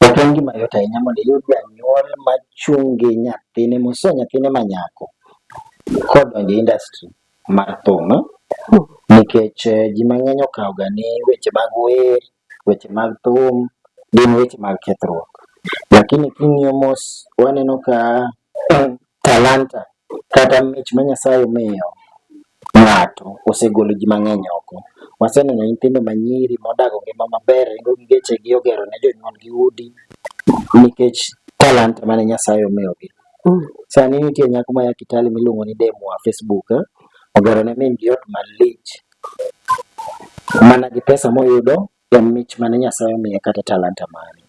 Ok en gima yot ahinya mondo iyud janyuol ma chung' gi nyathine moso nyathine ma nyako kodonjo e industry mar thum nikech ji mang'eny okawo ga ni weche mag wer, weche mag thum gin weche mag kethruok. Lakini king'iyo mos waneno ka Talanta kata mich ma Nyasaye omiyo ng'ato osegolo ji mang'eny oko. Waseneno nyithindo manyiri modago ngima maber, ringo gi gechegi, ogero ne jonyuolgi udi nikech talanta mane Nyasaye omiyogi. Sani nitie nyako maya Kitale miluongo ni Demwa Facebook, ogero ne min-gi ot malich mana gi pesa moyudo en mich mane Nyasaye omiye kata talanta mane.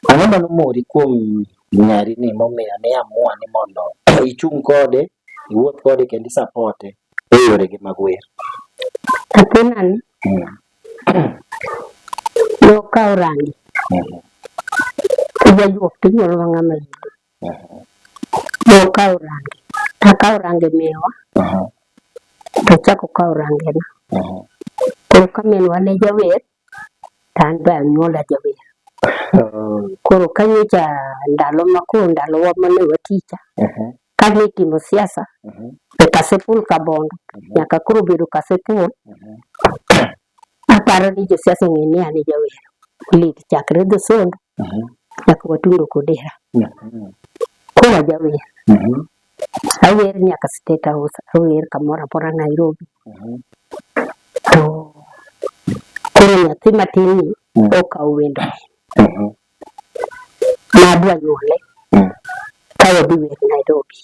Ang'o ma nomori kuom nyari ni momiyo ne amua ni mondo ichung' kode, iwuoth kode kendo isapote e yorege mag wer? Athinan mm. nokawo rangi mm. kijajuok tinyuolwa ng'ama Nokawo range, nakawo range minwa to achako kawo rangena. Koro ka minwa ne jawer to an be anyuola jawer. Koro ka nyocha ndalo ma koro ndalowa mane waticha kane itimo siasa e Kasipul Kabondo nyaka koro obedo Kasipul Aparo ni josiasa ong'e ni an e jawer lit chakre dho sondo Mhm. nyaka watundo kodera. Mhm. Koro ajawer. Mhm. Awer nyaka State House, awer kamoro amora Nairobi. Mhm. To koro nyathi matin ni Mm. okawo wendo Mhm. nadwa nyuole Mm. ka wadhi wer Nairobi.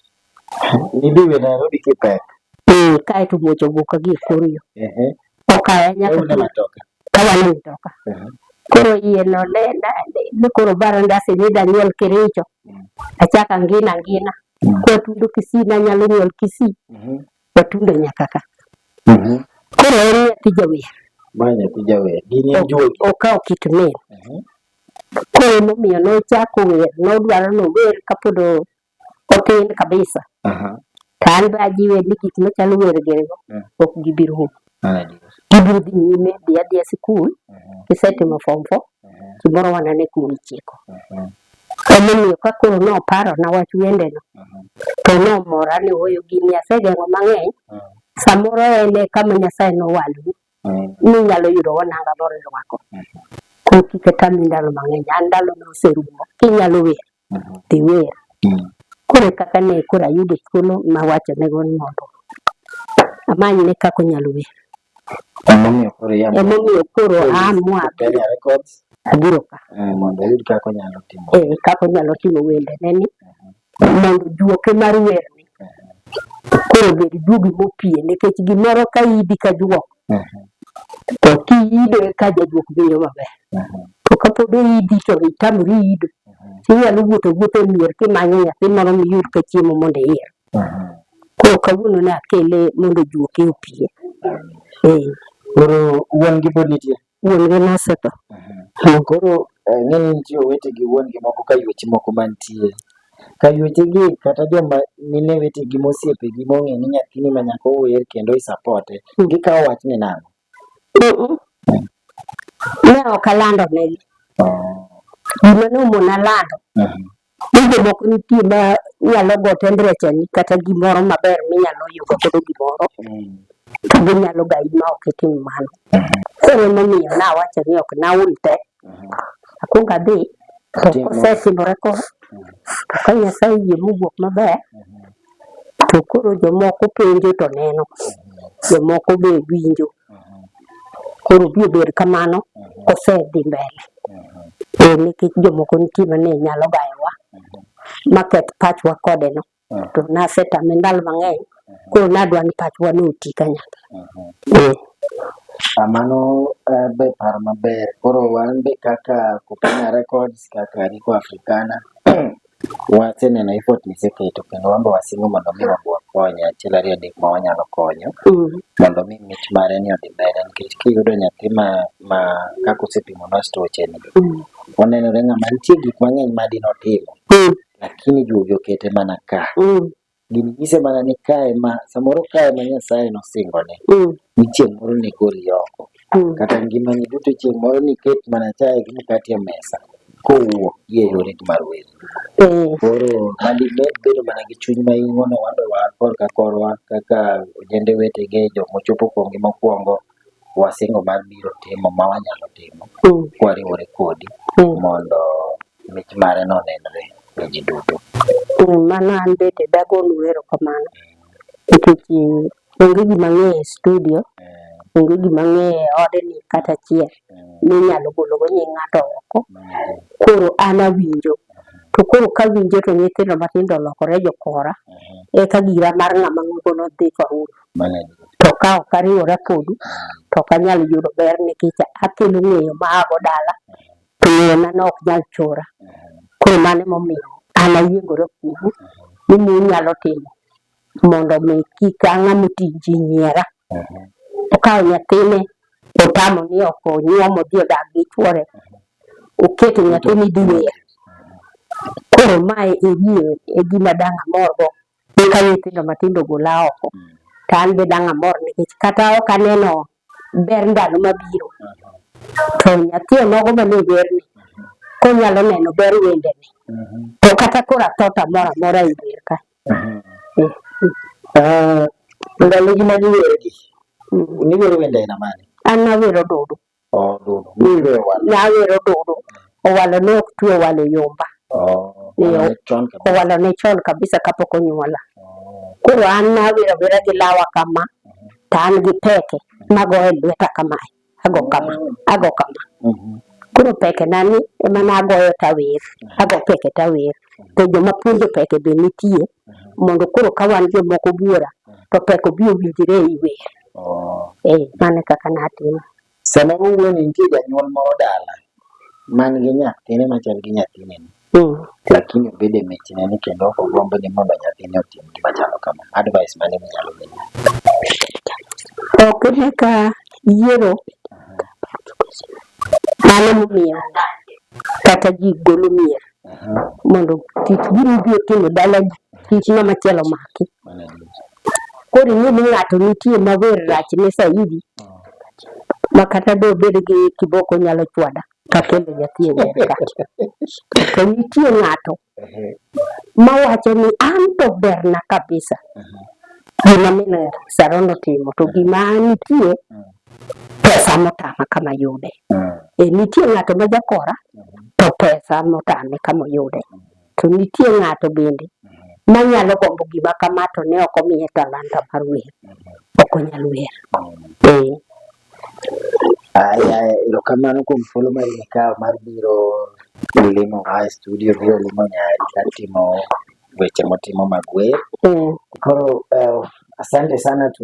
Nidhi we Nairobi kipek. Eh, kae to muocho wuok ka gi kor yo. Ehe. Okaya nyaka. Ewe matoka. Kawa ni matoka. Ehe. Koro iye no le na le ne koro baro ndasi ni da nyol kiricho. Mm. Achaka ngina ngina. Mm. Kwa tundo kisi na nyalo nyol kisi. Mhm. Kwa tundo nyaka ka. Mhm. Koro eri ya tija we. Banya tija we. Gini ya juwe. Okao kitu me. Mhm. Koro nomiyo nochako wer, nodwaro nower kapodo otin kabisa to an be ajiwe ni gik machalo wergerego mm. ok gibiro hum ah, gibiro dhi nyime dhi adhiya sikul mm-hmm. kisetimo form four mm-hmm. gimoro wanane kuma ichiko mm-hmm. emomiyo ka koro noparo na wach wendeno to nomora ni oyo gini asegeng'o mang'eny mm. samoro ene kama nyasaye nowaloni mm. ninyalo yudo wananga moro irwako kok kik tami ndalo mang'eny an ndalo noserumo kinyalo wer dhi wer. Mm. Koro kaka ne koro ayudo thuolo mawacho nego ni mondo amany ne kaka onyalo wer. Emomiyo koro amwa abiro ka. Eh, mondo ayud kaka onyalo timo. Eh, kaka onyalo timo wende ne ni uh-huh. mondo juoke mar wer ni uh-huh. koro bed juogi mopie nikech gimoro ka idi ka juok To kiido eka jajuok winjo maber. To kapod oidi to itamri ido, inyalo wuotho wuotho e mier kimanyo nyathi moro miyud ka chiemo mondo iyier. Koro kawuono ne akele mondo ojuoke opie. Koro wuon gi pod nitie? wuongi nosetho. Mhm. Koro eh, ng'enyne nitie owete gi wuongi moko ka yueche moko mantie ka yuechegi kata joma mine wetegi mosiepegi mong'e ni nyathini ma nyako wer kendo isapote mm. gikawo wachni nang'o? Ne ok alandonegi. Oh. Gima nomona lando mhm. Tinde moko nitie ma nyalo go temperature ni kata gimoro maber minyalo yugo godo gimoro to ginyalo gayi ma ok itim mano. Koro emomiyo nawacho ni ok naol te, akwongo adhi to Timo. kosetimore ko to ka Nyasaye oyie mowuok maber to koro jomoko penjo to neno, jomoko be winjo Koro bi obed kamano osedhi mbele. Eh, nikech jomoko nitie mane nyalo gayowa maketh pachwa kode no. To nasetame ndalo mang'eny. Koro nadwa ni pachwa ne oti kanyakla. Eh, Ah, Mano eh, be paro maber. Koro wan be kaka Kupina Records, kaka Rico Africana, Waseneno effort miseketo kendo wan be wasingo mondo mi wabwa konyo achiel ariyo adek ma wanyalo konyo mondo mi mich mare ni odhi mbele nikech kiyudo nyathi ma ma kaka osepimo na stoche ni onenore ng'ama nitie gik mang'eny ma dino timo lakini juogi okete mana ka gini nyise mana ni kae ma samoro kae ma Nyasaye nosingo ne mm. ni chieng' moro ni goli oko mm. kata ngimani duto chieng' moro ni ket mana chae gi mkate e mesa kowuok gi e yore mar welo. Mm. Koro mani ne bedo mana gi chuny ma ing'ono wadowa korka korwa kaka ojende wetege jok mochopo kuomgi mokwongo wasingo mar biro timo ma wanyalo timo mm. kwariwore kodi mm. mondo mich mare no nenre ne ji duto. Mm, mano an bende dagonu erokamano nikech onge gima ng'eyo e studio onge gima ng'eyo e odni kata achiel minyalo gologo nying ng'ato oko koro an awinjo to koro kawinjo to nyithindo matindo olokore jokora eka gira mar ng'ama ng'ogo nodhi ka uru to ka ok ariwora kodu to ok anyal yudo ber nikech akelo ng'eyo ma ago dala to ng'eyona no ok nyal chora. Koro mano emomiyo an ayiengora kuomu ni munyalo timo mondo mi kik ang'a moti ji nyiera. Okawo nyathine otamo ni ok onyuom odhi odag gi chuore, oketo nyathini dhi wer. Koro mae e gima dang' amorgo eka nyithindo matindo gola oko mm. to an be dang' amor nikech kata ok aneno ber ndalo mabiro to nyathi onogo ma ne werni konyalo neno ber wendene mm-hmm. to kata koro athota moro amora e dier ka mm-hmm. eh, eh. Ah, ndalogi ma niwergi mm. niwero wende aina mane an nawero dudu Nyawero Odudu owalo ne ok twe owalo e yomba oh, owalo ne chon kabisa kapok onyuola oh. koro an nawero awera gi lawa kama mm-hmm. to an gi peke magoye lweta kamae ago kama mm-hmm. ago kama mm-hmm. koro peke nani ema nagoyo tawer ago peke tawer to joma puonjo peke be nitie mondo koro ka wan jomoko buora to peke obi owinjre e iwer Oh. Eh, mano kaka natimo. Sama wuoyi nitie janyuol moro dala man gi nyathine machal gi nyathine ni. Mm. Lakini obede michne ni kendo ok ogombo ni mondo nyathine otim gima chalo kama. Advice mane minyalo miye? Ok ne ka yiero mano momiyo kata ji golo mier mondo tich gini biro timo dala ji tich ng'ama chielo maki. Koro ing'e ni ng'ato nitie ma wer rachne saidi ma kata dobed gi kiboko nyalo chwada ka kendo nyathi e wer ka. To nitie ng'ato ma wacho ni an to berna kabisa gima min Saron otimo to gima nitie pesa motama kama yude. E, nitie ng'ato ma jakora to pesa motame kama oyude. To nitie ng'ato bende ma nyalo gombo gima kama to ne ok omiye talanta mar wer. Ok onyal wer. Ee. Aya, erokamano kuom thuolo ma ikawo mar biro limo a e studio biro limo nyari kar timo weche motimo mag wer. Ee. Koro eh, asante sana tu